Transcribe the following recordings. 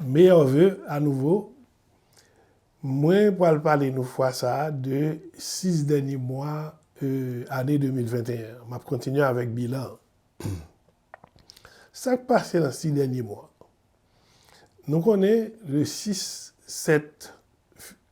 Meilleurs vœux à nouveau, Mwen pral pale nou fwa sa de 6 dènye mwa ane 2021. Map kontinye avèk bilan an. Sak pase nan 6 dènye mwa? Nou konnen le 6 sèt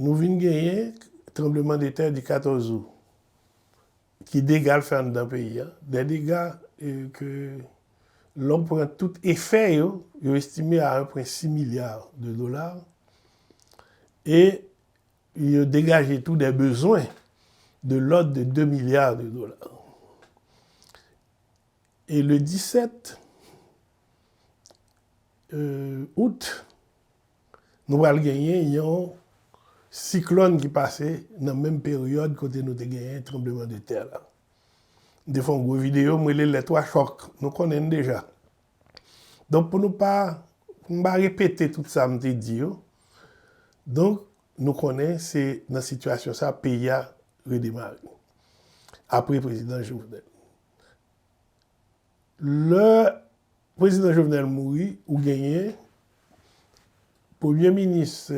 nou vin genyen tranbleman de tè di 14 Out ki dega l fè anndan peyi a, dè dega ke lè w pran tout efè yo, yo estime a 1.6 milya de dola e yo degaje tou dè bezwen de lòd de 2 milya de dola. E le 17 Out, Nou pral genyen yon siklòn ki pase nan menm peryòd kote nou te genyen tranbleman de tè la. M te fè yon gwo videyo m rele lè 3 chòk. Nou konnen l deja. Donk pou nou pa, pou m pa repete tout sa m te di yo, donk nou konnen se nan sitiyasyon sa peyi a redemare apre prezidan Jovenel. Lè Prezidan Jovenel mouri ou genyen Premye Minis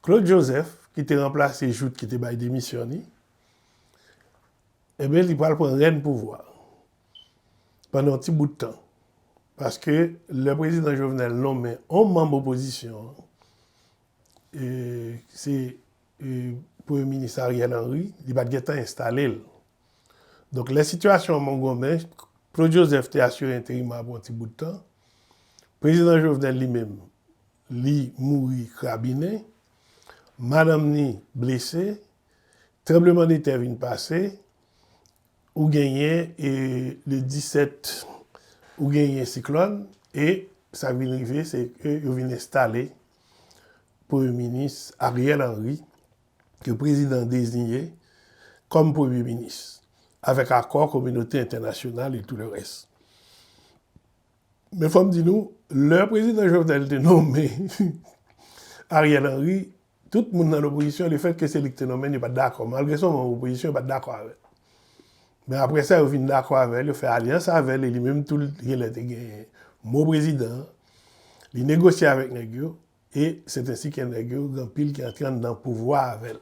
Claude Joseph ki te ranplase Jouthe ki te bay demisyon li, enben li pral pran rèn pouvwa pandan yon ti bout tan. Paske lè Prezidan Jovenel nonmen yon manm opozisyon an, se Premye Minis Ariel Henry, li pa t gen tan enstale l. Donk lè sitiyasyon an mongonmen, Claude Joseph te asire enterim an pou yon ti bout tan. Prezidan Jovenel li menm, li mouri krabinen. Madanm ni blese. Tranbleman de tè vin pase. Ou genyen le 17, ou genyen siklòn. E sa k vin rive se ke yo vin enstale Premye Minis Ariel Henry ke Prezidan deziye kòm Premye Minis avèk akò kominote entènasyonal e tou le rès. Men fòm di nou, lè Prezidan Jovenel te nome Ariel Henry, tout moun nan lopozisyon le fèt ke se li ki te nome l yo pa t dakò. Malgre se yon manm opozisyon, yo pa t dakò avè l. Men apre sa yo vin dakò avè l, yo fè alyans avè l e li menm tou l gen lè te gen mo Prezidan an. Li negosye avèk nèg yo e c'est ainsi que nèg yo gen anpil ki antre anndan pouvwa avè l.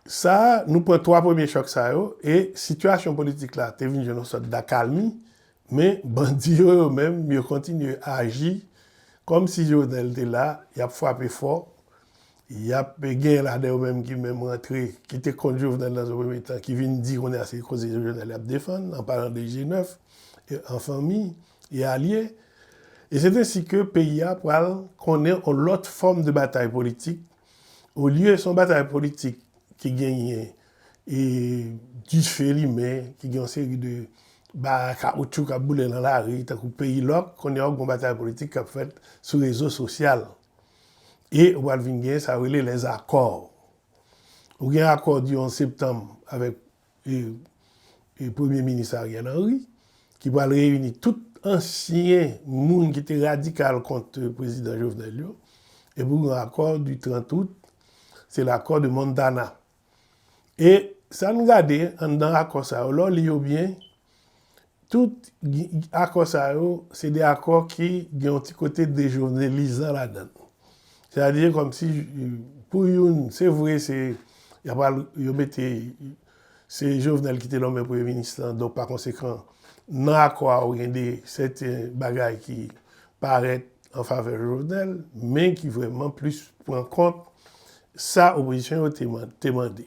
Sa nou pran 3 premye chòk sa yo e sitiyasyon politik la te vin jwenn yon sòt dakalmi men bandi yo yo menm yo kontinye aji kòm si Jovenel te la y ap frape fò Yap gen ladan yo menm ki menm rantre, ki te kont Jovenel nan yon premye tan, ki vin di kounye a se koze Jovenel yap defann, an palan de G9, en famille et alliés. Et c'est ainsi que peyi a pral konnen yon lòt fòm de batay politik, olye se yon batay politik ki genyen dife limen, ki gen yon seri de bagay kawoutchou kap boule nan lari, tankou peyi lòk, kounye a ou gen yon batay politik kap fèt sou rezo sosyal. e ou pral vin gen sa yo rele les accords. Ou gen akò di 11 septanm avèk premye minis Ariel Henry ki pral reyini tout ansyen moun ki te radikal kont prezidan Jovenel yo, epi ou gen akò di 30 out, se l' accord de Montana. E sa n gade anndan akò sa yo, lè w li yo byen, tout akò sa yo se de akò ki gen yon ti kote dejovnelizan ladan l. Sètadi kòmsi pou youn, se vre se y ap al yo mete se Jovenel ki te nonmen premye minis lan donk pakonsekan nan akò a ou gen de sèten bagay ki parèt an favè Jovenel men ki vrèman plis pran an kont sa opozisyon yo te mande.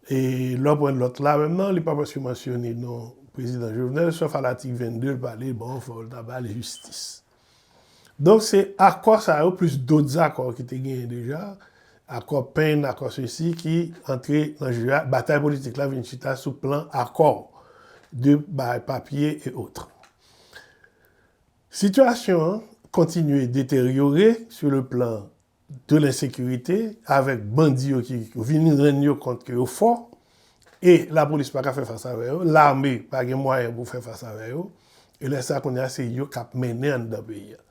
E lè w pran nòt la menm nan li pa prèske mansyone non prezidan Jovenel sòf a latik 22 l pale bon fò l ta ba l jistis. Donk se akò sa yo plis dot zakò ki te genyen deja, akò pen, akò sesi ki antre nan je a, batay politik la vin chita sou plan akò de bay papye e otre. Sitiyasyon an kontinye deteryore sou le plan de lensekirite avèk bandi yo ki vin rann yo kont ke yo fò e lapolis pa ka fè fas avè yo, lame pa gen mwayen pou fè fas avè yo e lè sa kounye a se yo k ap mennen anndan peyi a.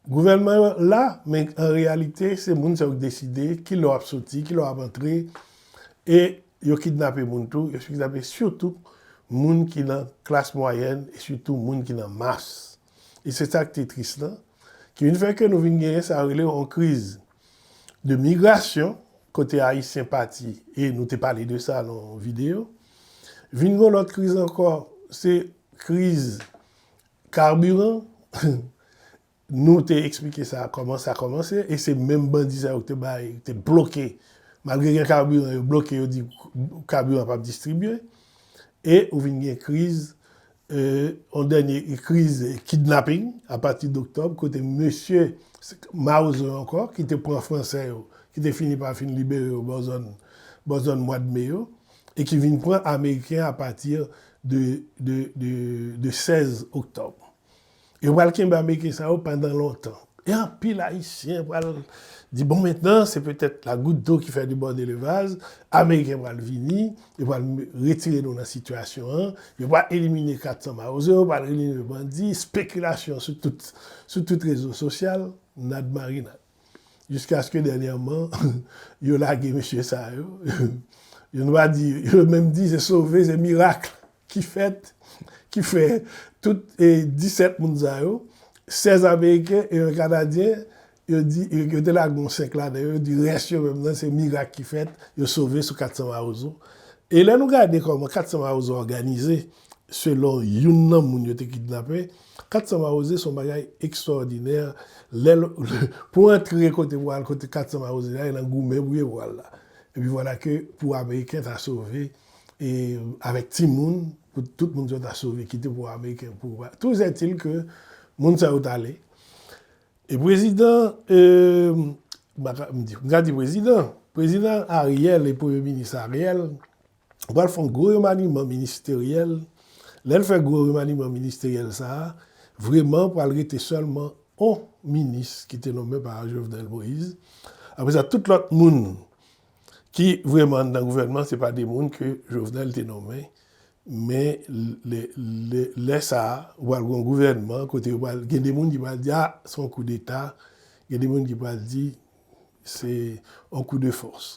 Gouvènman yo la men an reyalite se moun sa yo k deside ki lè w ap soti, ki lè w ap antre e Yo kidnape moun tou, yo kidnape sitou moun ki nan klas mwayèn e sitou moun ki nan mas. E se sa ki te tris lan, ki vin fè ke nou vin genyen sa yo rele yon kriz de migrasyon kote Ayisyen pati, e nou te pale de sa nan yon videyo. Vin gen yon lòt kriz ankò, se kriz karbiran. Nou te eksplike sa kòman sa kòmanse e se menm bandi sa yo ki te bay, ki te bloke, malgre gen kabiran yo bloke yo di kabiran pap distribye e ou vin gen kriz yon dènye kriz kidnapping a pati d'octobre kote mesye mawozo yo ankò ki te pran fransè yo ki te fini pa fin libere yo bò zòn bò zòn mwad me yo e ki vin pran ameriken a pati de 16 octobre. Yo pral kenbe Ameriken sa yo pandan lontan. E anpil Ayisyen pral di bon mentnan se petèt la gout do ki fè de bòde le vaz, Ameriken pral vini, yo pral retire nou nan sitiyasyon an, yo pral elimine 400 mawozo, yo pral elimine bandi, spekilasyon sou tout rezo sosyal, nad marinad. jiskaske dènyèman yo lage mesye sa yo, yo nou pa di, yo menm di se sove, se mirak ki fèt, ki fè tout 17 moun sa yo, 16 ameriken e 1 kanadyen, yo di, yo te lage yon 5 ladan yo, yo di rès yo menm nan se mirak ki fèt, yo sove sou 400 mawozo. E lè nou gade kòman 400 mawozo òganize, Selon youn nan moun yo te kidnape, 400 mawoze se yon bagay ekstwòdinè lè l pou w antre kote pou w al kote 400 mawoze a e nan goumen pou yo pou al la. Epi vwala ke pou ameriken ta sove e avèk timoun pou tout moun sa yo ta sove kite pou ameriken pou va touzètil ke moun sa yo t ale e prezidan m pa ka m di m ka di prezidan prezidan Ariel e premye minis Ariel Ou pral fon gwo remaniman ministeryèl, lèl fè gwo remaniman ministeryèl sa a, vreman pral rete sèlman on minis ki te nonmen pa Jovenel Moïse, apre sa tout lòt moun ki vreman anndan gouvènman se pa de moun ke Jovenel te nonmen, men lè sa a ou pral gon gouvènman kote yo pral gen de moun ki pral di a son koudeta, gen de moun ki pral di se yon kou de fòs.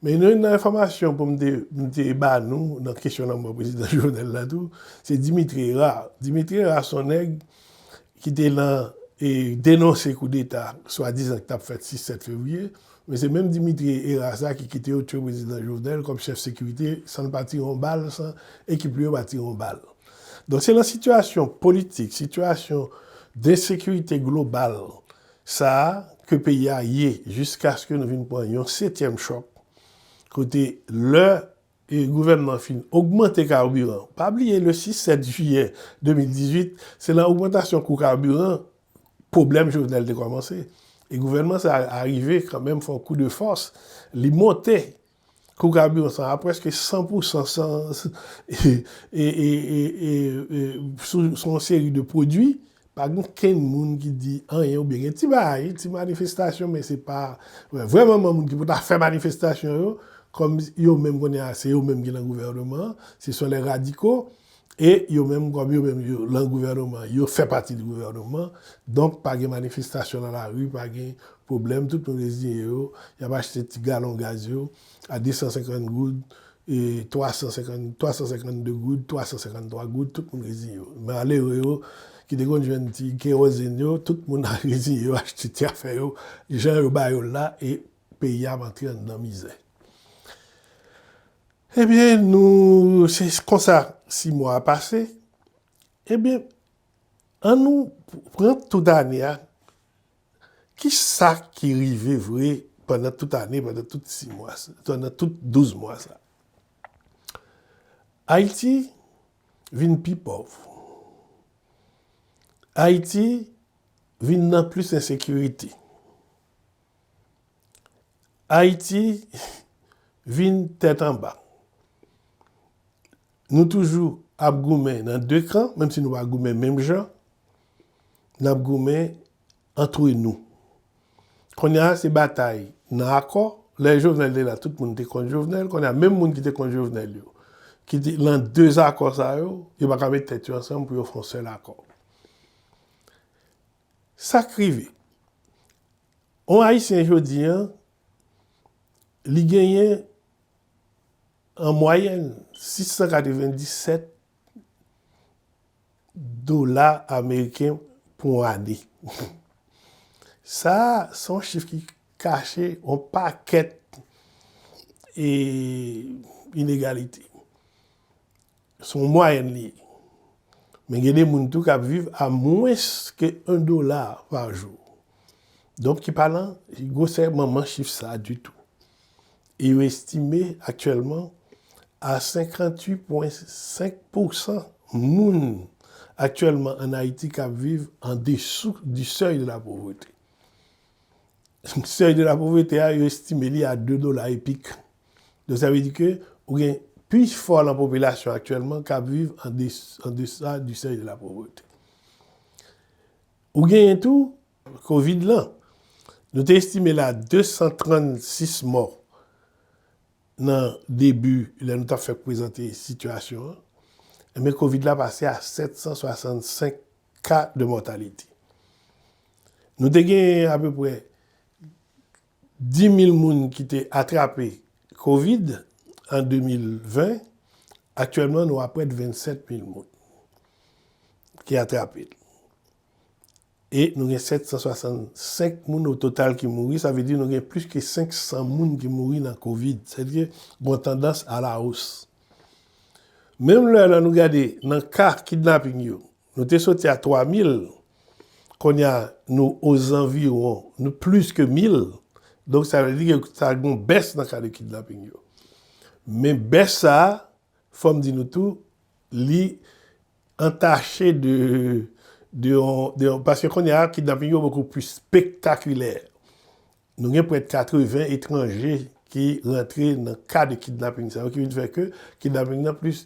Men youn nan enfòmasyon pou m te ba nou nan kesyon lanmò prezidan Jovenel la tou, se Dimitri Herard. Dimitri Herard se yon nèg ki te nan e denonse kou deta swadizan ki t ap fèt 6, 7 fevriye, men se menm Dimitri Herard sa ki kite yo tue prezidan Jovenel kòm chèf sekirite san l pa tire yon bal, san ekip li yo pa tire yon bal. Donk se nan sitiyasyon politik, sitiyasyon de ensekirite global Sa a ke peyi a ye jiskaske nou vin pran yon setyèm chòk kote lè gouvènman an fin ogmante kaburan, pa bliye le 6, 7 jiyè 2018 se lan ogmantasyon kou kaburan pwoblèm Jovenel te kòmanse e gouvènman sa a arive kanmenm fè yon kou de fòs li monte Kou kabiran sa a preske 100 pou 100 san sou yon seri de pwodui, pa gen okenn moun ki di anyen oubyen gen ti bagay, ti manifestasyon men se pa vrè manman moun ki pou ta fè manifestasyon yo kòm yo menm kounye a se yo menm ki nan gouvèneman an, se sèl lè radiko. E yo menm kòm yo menm yo lan gouvèneman, yo fè pati di gouvèneman, donk pa gen manifestasyon lan lari, pa gen pwoblèm, tout moun reziyen yo, y ap achte ti galon gaz yo a 250 goud, 350, 352 goud, 353 goud, tout moun reziyen yo. Malere yo ki te konn jwenn ti kewozenn yo, tout moun a reziyen yo achte ti afè yo jan yo ba yo l la e peyi a ap antre anndan mizè. Ebyen nou se konsa 6 mwa a pase, ebyen an nou pran tout ane a, kisa ki rive vre pandan tout ane, pandan tout 6 mwa, pandan tout 12 mwa sa. Ayiti vin pi pòv, Ayiti vin nan plis ensekirite, Ayiti vin tèt anba. Nou toujou ap goumen nan 2 kan, menm si nou pa goumen menm jan, n ap goumen antre nou. Kounye a se batay nan akò, lè Jovenel te la tout moun te kont Jovenel, kounye a menm moun ki te kont Jovenel yo, ki te lan dezakò sa yo, yo pa ka met tèt yo ansanm pou yo fè yon sèl akò. Sa k rive? On Ayisyen jodi an, li genyen an mwayèn 697 dola ameriken pou on ane. Sa a, se on chif ki kache on pakèt inegalite. Se yon mwayèn li ye. Men gen de moun tou k ap viv a mwens ke 1 dola pa jou. Donk ki pa lan gwosè manman chif sa a ditou. E yo estime aktyèlman a 58 pwen 5 pousan moun aktyèlman ann Ayiti k ap viv an desou di sèy de la povrete. Sèy de la povrete a yo estime li a 2 dola epik. Donk sa vle di ke ou gen plis fò lan popilasyon aktyèlman k ap viv an desa di sèy de la povrete. Ou genyen tou kovid lan. Nou te estime la 236 mò nan debi lè nou t ap fèk prezante sitiyasyon an. Enben kovid la pase a 765 ka de mòtalite. Nou te genyen apeprè. 10 mil moun ki te atrape kovid an 2020, aktyèlman nou aprèt 27 mil moun ki atrape l. E nou gen 765 moun o total ki mouri, sa vle di nou gen plis ke 500 moun ki mouri nan kovid. Sa vle di gon tandans a la os. Menm lè nan nou gade nan ka kidnaping yo, Nou te soti a 3000, kounye a nou ozanviwon, nou plis ke 1000, donk sa vle di ke ta gen yon bès nan ka de kidnaping yo. Men bès sa, fò m di nou tou, li entache de, de yon, de yon, paske kounye a kidnaping yo bokou plis spektakilè. Nou gen prèt 80 etranje ki rantre nan ka de kidnaping sa yo ki vin fè ke kidnaping nan plis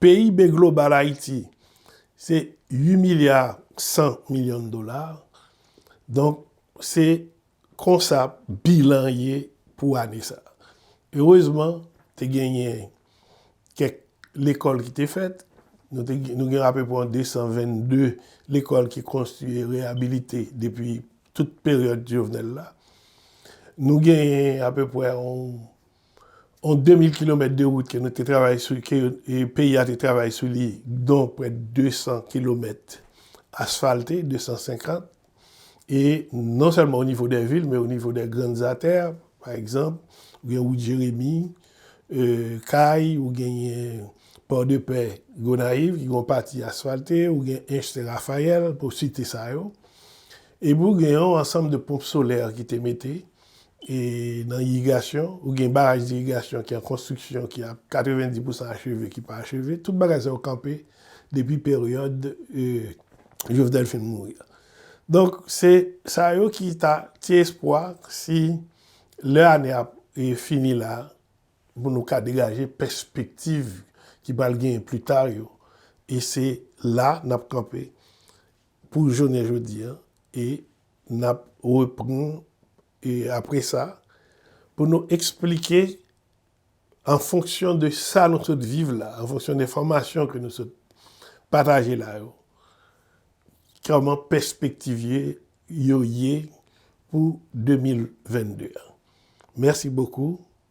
PIB global Ayiti se 8 milya 100 milyon dola, donk se konsa bilan an ye pou ane sa. Erezman, te genyen kèk lekòl ki te fèt, nou gen apepre yon 222 lekòl ki konstwi e reyabilite depi tout peryòd Jovenel la. Nou genyen apepre yon yon 2000 kilomèt de wout ke nou te travay sou, ke peyi a te travay sou li, don prè 200 kilomèt asfalte, 250, e non sèlman o nivo dè vil, men o nivo dè grann zatè, pa egzanp, ou gen wout Jeremi, Kay, ou genyen Port de Paix, Gonayiv, ki gen yon pati asfalte, ou gen Enste Rafayèl, pou site sa yo. Epi ou gen yon ansanm de ponp solè ki te mete. e nan irigasyon, ou gen baraj dirigasyon ki an konstriksyon ki a 90 pousan acheve ki pa acheve, tout bagay sa yo kanpe depi peryòd Jovenel fin mouri a. Donk se sa yo ki ta ti espwa si lè ane a fini la pou nou ka degaje pèspektiv ki pral genyen pli ta yo e se la n ap kanpe pou jounen jodi e N ap reprann apre sa pou nou eksplike an fonksyon de sa nou sot viv la, an fonksyon de enfòmasyon ke nou sot pataje la yo, kòman pèspektiv yo ye pou 2022 an. Mèsi bokou